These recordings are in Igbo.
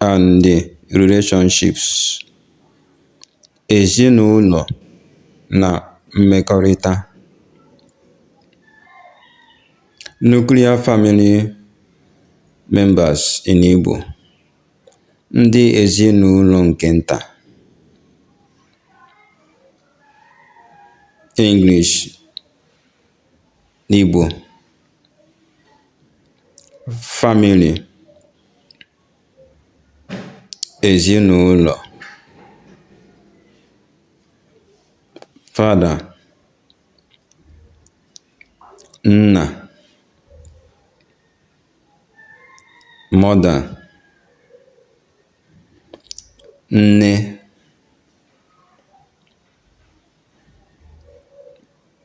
and relationships, Ezinụlọ na mmekọrịta, Nuclear family members in Igbo, Ndị ezinụlọ nke nta, English and Igbo, Family Èzinụlọ̀ fada, nnà, mother, nne,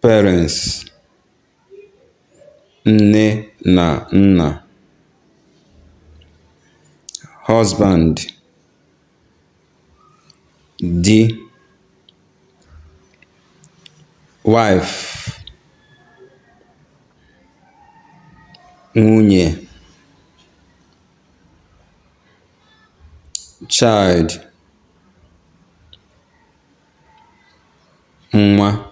parents. Nne na nna. Husband. Di. Wife. Nwunye. Child. Nwa.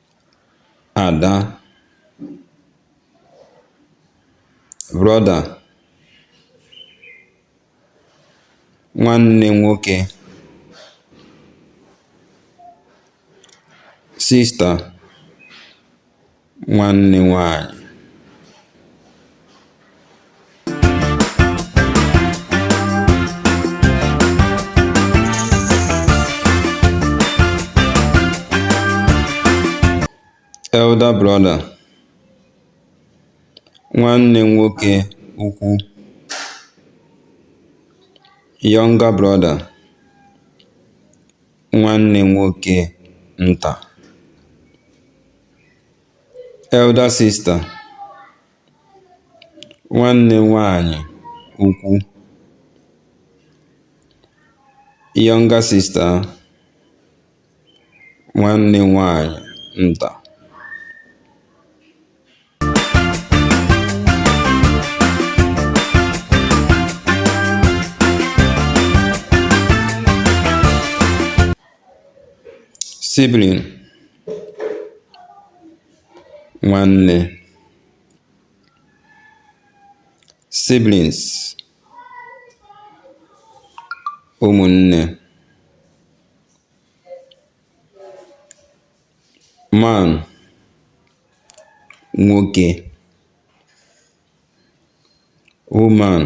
Ada, brother, nwanne nwoke, sister, nwanne nwanyị. Elder brother, nwanne nwoke ukwu, younger brother, nwanne nwoke nta, elder sister, Nwanne nwaanyị ukwu, younger sister, nwanne nwaanyị nta. Sibling nwanne siblings ụmụnne man nwoke Woman,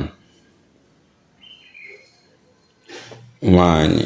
nwanyị.